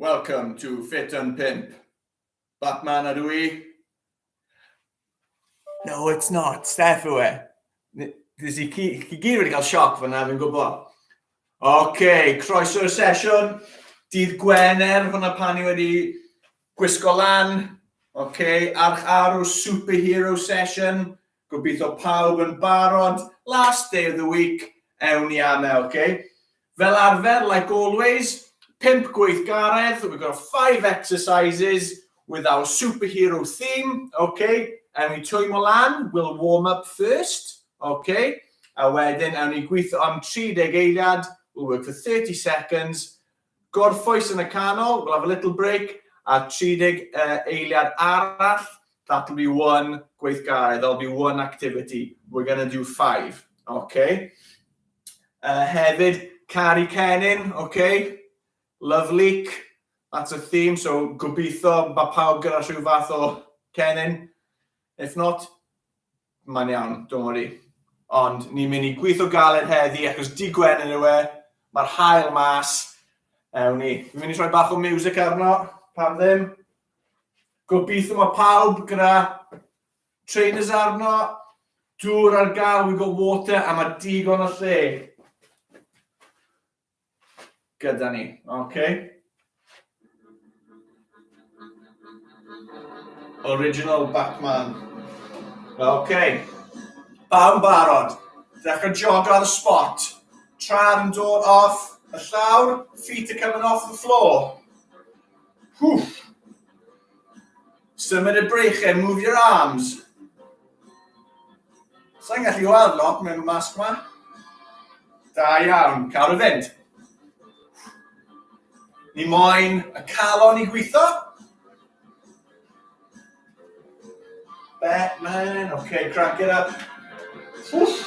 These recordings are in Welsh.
Welcome to Fit and Pimp. Batman ydw i. No, it's not. Steph yw e. Nes i chi gyd wedi cael sioc fyna, fi'n gwybod. OK, croeso'r sesiwn. Dydd Gwener, hwnna pan i wedi gwisgo lan. OK, arch arw superhero session. Gobeithio pawb yn barod, last day of the week, ewn i ame, ok? Fel arfer, like always, pump gweithgaredd, we've got five exercises with our superhero theme, ok? Ewn i twymo lan, we'll warm up first, ok? A wedyn, ewn i gweithio am 30 eiliad, we'll work for 30 seconds, Gorffwys yn y canol, we'll have a little break, a 30 eiliad arall, that'll be one gweithgaredd, that'll be one activity, we're going to do five, ok? Uh, hefyd, Cari Cennin, ok? Love leak, that's a theme, so gobeithio mae pawb gyda rhyw fath o Cennin. If not, Mae'n iawn, don't worry. Ond ni'n mynd i gweithio galed heddi achos di gwen yn yw e, mae'r hael mas. Ewn ni. Fi'n mynd i rhoi bach o music arno, pam ddim. Gobeithio mae pawb gyda trainers arno, dŵr ar gael, we got water, a mae digon o lle. gyda ni. OK. Original Batman. OK. Bawb barod. Dechrau jogo ar y spot. Tra'r yn dod off y llawr. Feet are coming off the floor. Hwff. Symud y breichau, move your arms. Sa'n gallu weld lot mewn masg ma. Da iawn, cael y fynd. Ni moyn y calon i gweithio. Batman, okay, crack it up. Wff.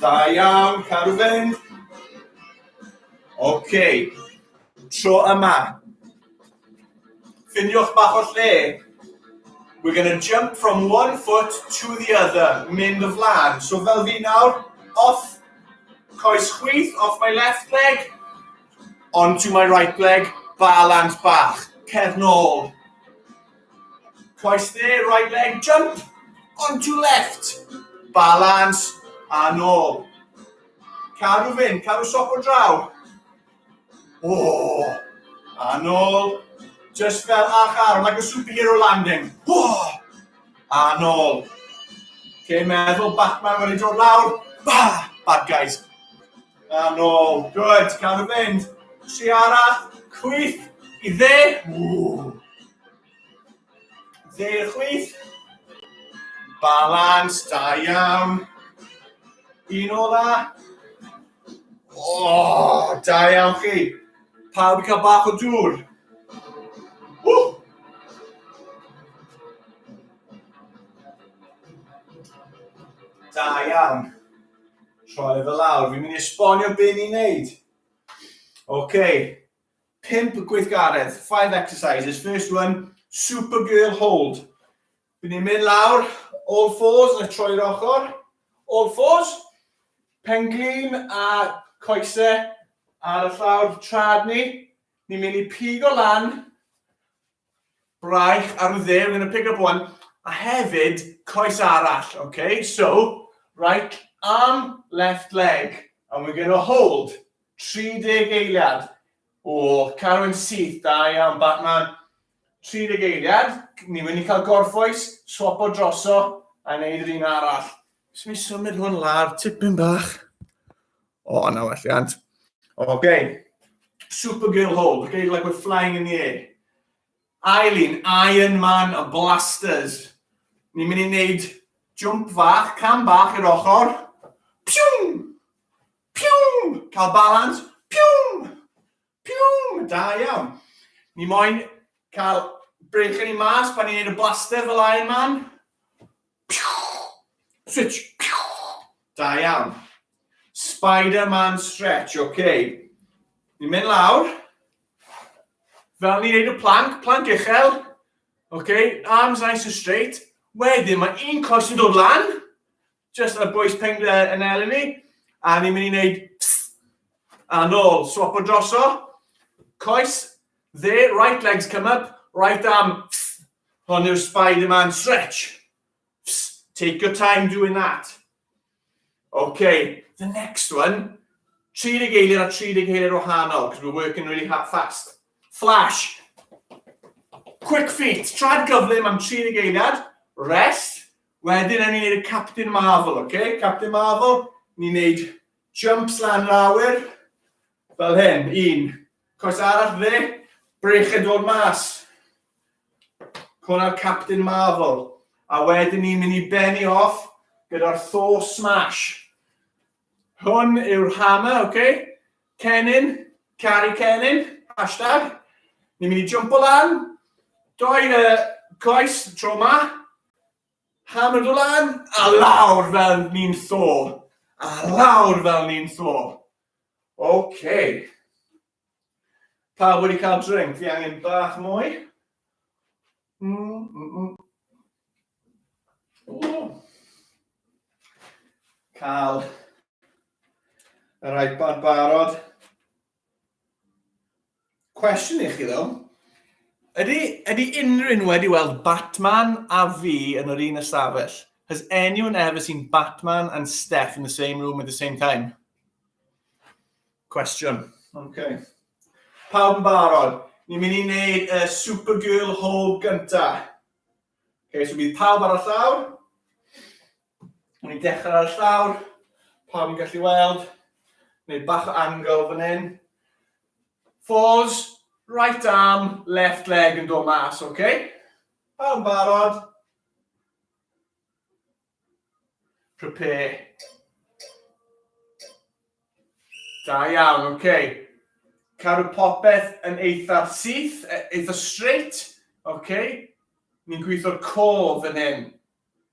Da iawn, cadw fynd. OK, tro yma. Ffiniwch bach o lle. We're going to jump from one foot to the other, mynd y flan. So fel fi nawr, off coes chwith, off my left leg, onto my right leg, balans bach, cefn ôl. Twice there, right leg jump, onto left, balance, a nôl. Caru fyn, caru sop o draw. O, a nôl. Just fel ach arm, like a superhero landing. O, a nôl. Cyn meddwl, Batman wedi dod lawr. Ba, bad guys. Good, gawn nhw fynd. Tri arall, chwith i dde. Ww. Dde i'r chwith. Balans, da iawn. Un ola. O, da iawn chi. Pawb i cael bach o dŵr. Ww. Da iawn. Troi fe lawr, fi'n mynd i esbonio be ni'n neud. Ok, pimp gweithgaredd, five exercises. First one, Supergirl hold. Fi'n ni'n mynd lawr, all fours, na troi'r ochr, all fours, pen glin a coese ar y llawr trad ni. Ni'n mynd i pigo lan, Braich ar y dde, we're going to pick up one. A hefyd, coes arall, okay? So, right arm, left leg. And we're going to hold 30 eiliad. O, Carwyn syth, da iawn, Batman. 30 eiliad, ni wedi cael gorffwys, swap o droso, a wneud yr un arall. Swn i'n symud hwn lawr, tipyn bach. O, oh, na welliant. Okay. Supergirl hold, okay, like we're flying in the air. Eileen, Iron Man, a blasters. Ni'n mynd i wneud jump fach, cam bach i'r ochr. Piwm! Piwm! Cael balans. Piwm! Pium! Da iawn. Ni moyn cael brech yn ei mas pan ni'n neud y blaster fel Iron Man. Switch. Da iawn. Spider-Man stretch, oce. Okay. Ni'n mynd lawr. Fel ni'n neud y plank, plank uchel. Oce, okay. arms nice and straight. Wedyn mae un coes yn dod lan. Just y bwys ping le yn elyn ni. A ni'n mynd i wneud psst. A nôl, swap o droso. Coes, dde, right legs come up, right arm, psst. Hon yw'r Spider-Man stretch. Psst. Take your time doing that. Okay, the next one. 30 geiliad a 30 geiliad o hanol, because we're working really hard fast. Flash. Quick feet. Trad gyflym am 30 geiliad. Rest. Wedyn ewn ni neud y Captain Marvel, oce? Captain Marvel, ni'n neud jumps lan yr awyr, fel hyn, un. Coes arall dde, brech yn dod mas. Hwna'r Captain Marvel. A wedyn ni'n mynd i benni off gyda'r Thor Smash. Hwn yw'r hammer, oce? Okay? Cennin, cari Cennin, hashtag. Ni'n mynd i jumpo lan, doi y coes tro ma, Hammer do lan, a lawr fel ni'n tho. A lawr fel ni'n tho. OK. Pa wedi cael drink? Fi angen bach mwy. Mm, mm, mm. Cael yr iPad barod. Cwestiwn i chi ddo. Ydy, ydy unrhyw un wedi weld Batman a fi yn yr un ystafell? Has anyone ever seen Batman and Steph in the same room at the same time? Cwestiwn. Okay. Pawb yn barod. Ni'n mynd i wneud y Supergirl Hall gynta. Okay, so bydd pawb ar y llawr. O'n i'n dechrau ar y llawr, pawb yn gallu weld, neu bach o angle fan hyn. Falls, right arm, left leg yn dod mas, oce? Okay? Pawb yn barod? Prepare. Da iawn, oce. Okay. Cadw popeth yn eitha syth, e, eitha straight, oce? Okay? Ni'n gweithio'r cof yn hyn.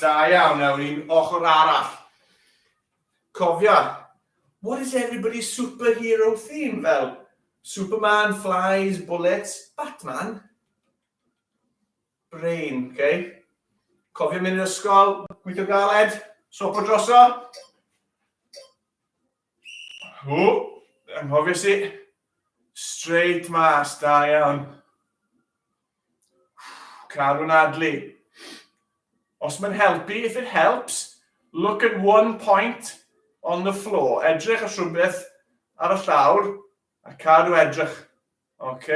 Da iawn, nawr un ochr arall. Cofia, what is everybody's superhero theme? Fel, Superman, Flies, Bullets, Batman. Brain, oce? Okay? Cofio mynd i'r ysgol, gweithio galed, sopo droso. Ww, anghofies i. Straight mas, da iawn. Carw'n adlu. Os mae'n helpu, if it helps, look at one point on the floor. Edrych at rhywbeth ar y llawr a cadw edrych. OK?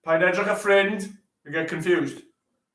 Paid edrych a ffrind, you get confused.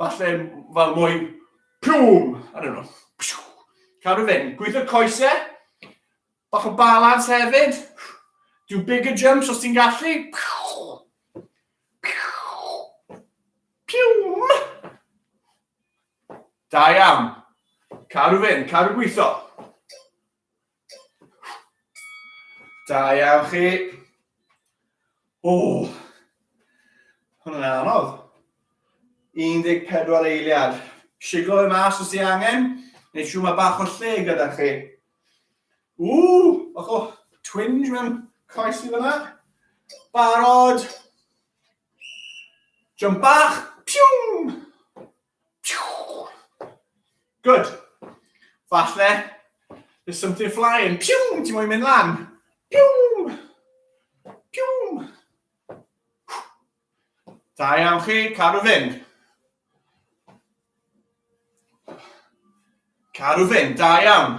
Falle, fel mwyn, pwm, I don't know. Cadw fynd, gweithio coesau, bach o balans hefyd. Do bigger jumps os ti'n gallu. Piwm! Da iawn. Cadw fynd, cadw gweithio. Da iawn chi. O, hwnna'n anodd. 14 eiliad. Siglo fe mas os ti angen, neu siw mae bach o lle gyda chi. Ww, bach o twinge mewn coes i fyna. Barod. Jump bach. Piwm! Good. Falle, there's something flying. Piwm, ti'n moyn mynd lan? Piwm! Piwm! Da iawn chi, cadw fynd. Cadw fynd, da iawn.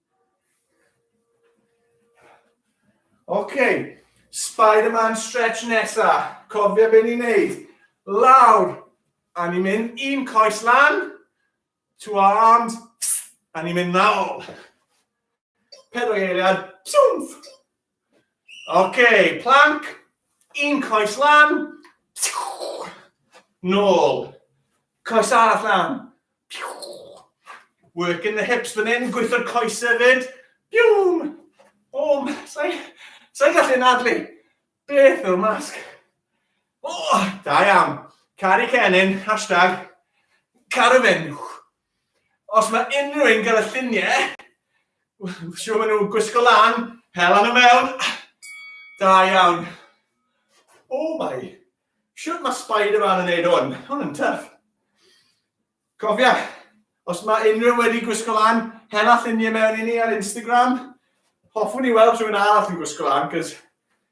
Ok, Spider-Man stretch nesa. Cofio be ni'n neud. Lawr, a ni'n mynd un coes lan, to our arms, a ni'n mynd nôl. Pedwar eiliad, siwmff! Ok, plank, un coes lan, nôl, coes arall lan, work in the hips fan hyn, gweithio'r coes hefyd, biwm, om, sa'i sa gallu nadlu, beth yw'r masg? O, oh, da iawn, cari cennin, hashtag, carafenwch. Os mae unrhyw un gyda lluniau, siwr maen nhw'n gwisgo lan, hela nhw mewn. Da iawn. O mai, siwr mae Spider-Man yn neud hwn, hwn yn tyff. Cofia, os mae unrhyw wedi gwisgo lan, hela lluniau mewn i ni ar Instagram. Hoffwn i weld rhywun arall yn gwisgo lan, cos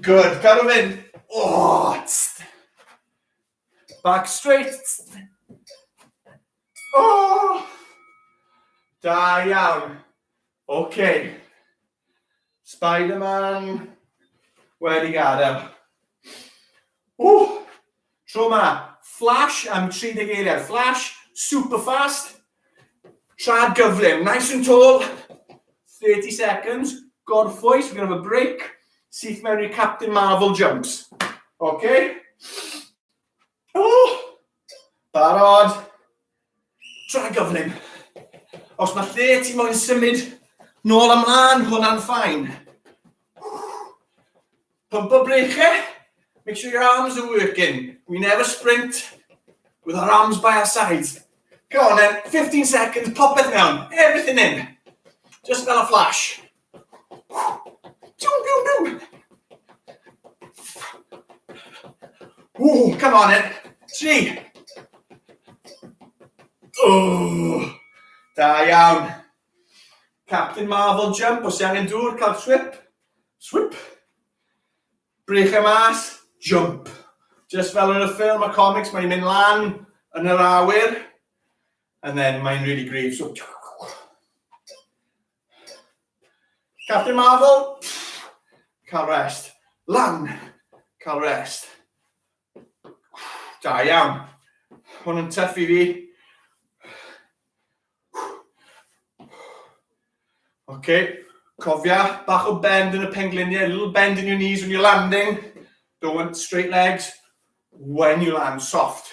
Good, cadw mynd. Oh, Back straight. Oh. Da iawn. OK. Spider-Man. Wedi gadael. Ww. Tro 'ma, flash am 30 eiliad. Flash, super fast. Trad gyflym, nice and tall. 30 seconds, gorffwys, we're going to have a break. Syth mewn i'r Captain Marvel jumps. OK? Oh! Barod. Tra gyflym. Os mae lle ti moyn symud nôl ymlaen, hwnna'n ffain. Pumpo breichau, make sure your arms are working. We never sprint with our arms by our sides. Go on then, 15 seconds, popeth mewn, everything in. Just fel a flash. Ooh, come on then. Three. Oh, da iawn. Captain Marvel jump, os angen dŵr, cael swip. Swip. Brych e mas, jump. Just fel yn y ffilm, y comics, mae'n mynd lan yn yr awyr. And then mae'n really grif, so... Captain Marvel, cael rest. Lan, cael rest. Da iawn. Hwn yn tuff i fi. OK, cofia, bach o bend yn y pengliniau, little bend in your knees when you're landing. Don't want straight legs. When you land, soft.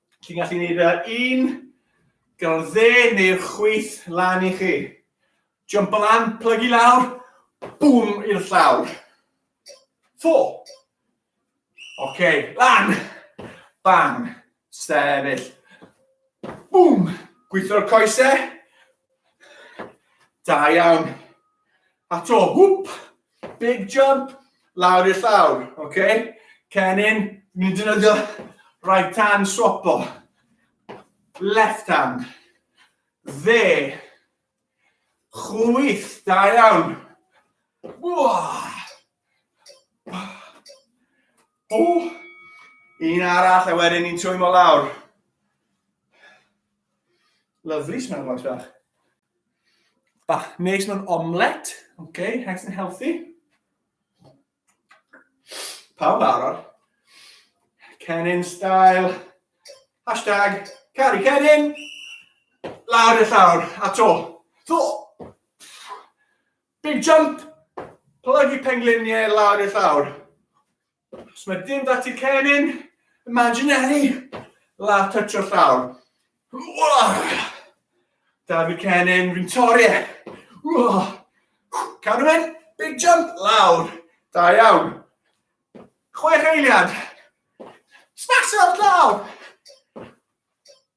Chi'n gallu gwneud fe ar un, gyda'r dde neu'r chwyth lan i chi. Jump o lan, plygu lawr, bwm i'r llawr. Fo. Oce, okay, lan, bang, stefyll. Bwm, gweithio'r coesau. Da iawn. A to, hwp, Big jump, lawr i'r llawr, oce? Okay? Cennin, ni'n defnyddio right hand swapo. Left hand. Dde. Chwyth, da iawn. O, un arall a wedyn ni'n twymo lawr. Lovely smell boys bach. Bach neis mewn omlet. Okay, nice and healthy. Pawb arall. Cennin style. Hashtag Cari Cennin. Lawr y llawr. A to. To. Big jump. Plygu pengliniau lawr y llawr. Os mae dim da ti cennin, imaginary, la touch o llawr. Da fi cennin, fi'n torri e. Cadw mynd, big jump, lawr. Da iawn. Chwech eiliad. Smasho'r llawr.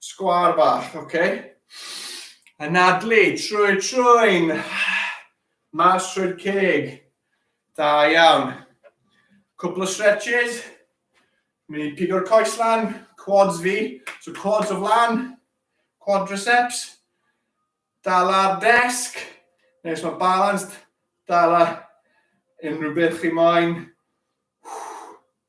Sgwar bach, oce. Okay. Anadlu, trwy trwy'n. Mas trwy'r ceg. Da iawn. Cwpl o stretches. Mynd i pigo'r coes lan, quads fi. So quads o flan, quadriceps. Dal ar desg. Nes mae balanced, dal ar unrhyw beth chi moyn.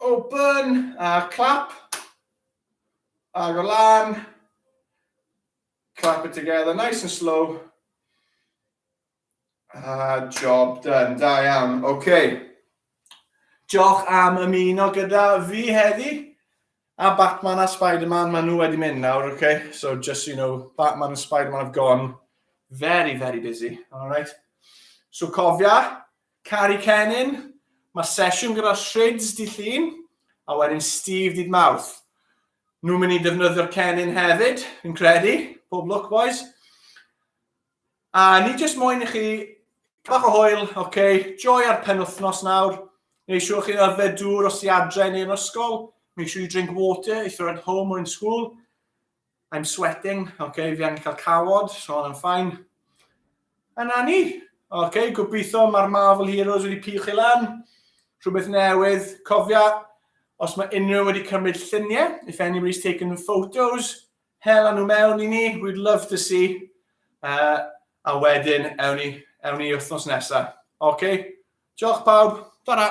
Open a clap. Ar y lan. Clap it together, nice and slow. A job done, da iawn. Oce. Okay. Diolch am ymuno gyda fi heddi. A Batman a Spider-Man, maen nhw wedi mynd nawr, oce? Okay? So just so you know, Batman and Spider-Man have gone very, very busy, alright? So cofia, Cari Cennin, Mae sesiwn gyda Shrids dy Llun, a wedyn Steve dydd Mawrth. Nhw'n mynd i ddefnyddio'r Cennin hefyd, fi'n credu. Pob lwc, boys. A ni jyst moyn i chi bach o hwyl, oce, okay, joy ar penwthnos nawr. Neu siwr chi'n arfer dŵr os i adre neu yn ysgol. Make sure you drink water if you're at home or in school. I'm sweating, oce, okay, fi angen cael cawod, so hon yn ffain. A na ni, oce, okay, gobeithio mae'r Marvel Heroes wedi piwch i lan, rhywbeth newydd, cofia, os mae unrhyw wedi cymryd lluniau, if anybody's taken photos, hela nhw mewn i ni, we'd love to see. Uh, a wedyn, ewn ni, ewn ni wythnos nesaf. Oce, okay. diolch pawb, dyna.